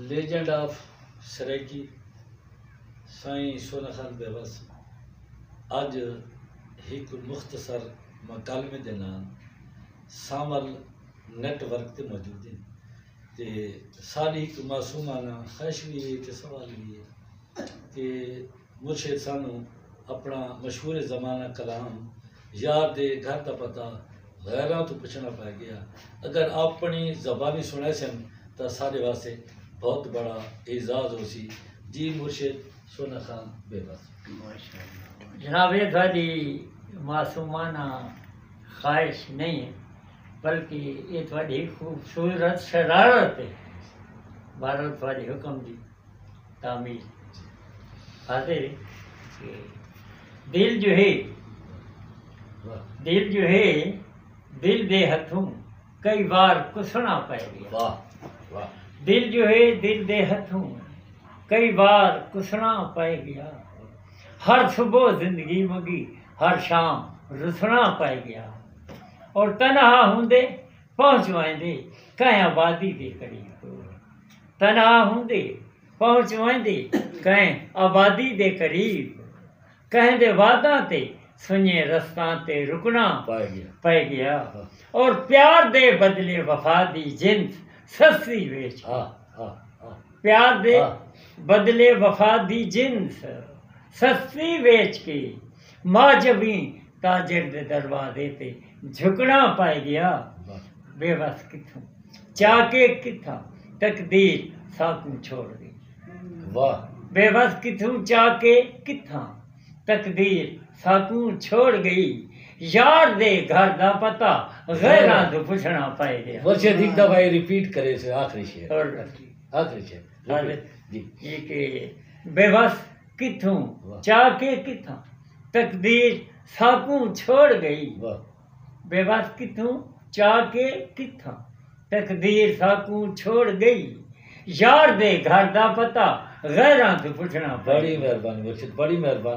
Legend of Saraiki Sain Sona Khan Bewas اج ہک مختصر مکالمے دے نال سانول نیٹ ورک تے موجود ہیں۔ تے ساݙی ہک معصومانہ خواہش وی ہے تے سوال وی ہے کہ مرشد سانوں اپݨا مشہور زمانہ کلام یار دے گھر دا پتہ غیراں توں پچھݨا پئے ڳیا اگر آپݨی زبانی سݨیسن تاں ساݙے واسطے بہت بڑا اعزاز ہوسی جی مرشد سونا خان بے وس۔ جناب اے ساݙی معصومانہ خواہش نئیں ہے۔ بلکہ ایہ تہاݙی ہک خوبصورت شرارت ہے۔ بہرحال تہاݙے حکم دی تعمیل خاطر ہے کہ دل جو ہے دل جو ہے دل دے ہتھوں کئی وار کسݨا پئے گیا دل جو ہے دل دے ہتھوں کئی وار کسݨا پئے گیا ہر صبح زندگی منگی ہر شام رسݨا پئے گیا اور تنہا ہوندے پہنچ ویندے کہیں آبادی دے قریب تنہا ہوندے پہنچ ویندے کہیں آبادی دے قریب کہیں دے واداں تے سنجھیں رستاں تے رکنا پئے گیا اور پیار دے بدلے وفا دی جنس سستی ویچ پیار دے بدلے وفا دی جنس سستی ویچ کے معجبیں تاجر دے دروازے تے جھکڑاں پائے ڳیا بے وس کتھوں چا کے کتھاں تقدیر ساکوں چھوڑ ڳئی واہ بے وس کتھوں چا کے کتھاں تقدیر ساکوں چھوڑ ڳئی یار دے گھر دا پتہ غیراں توں پچھڑاں پائے ڳیا ورشے دی دفعہ اے ریپیٹ کرے سے آخری شعر آخری شعر جی جی کہ بے وس کتھوں چا کے کتھاں تقدیر ساکوں چھوڑ گئی بے وس کتھوں چا کے کتھاں تقدیر ساکوں چھوڑ گئی یار دے گھر دا پتہ غیراں توں پچھنڑاں پئے گیا۔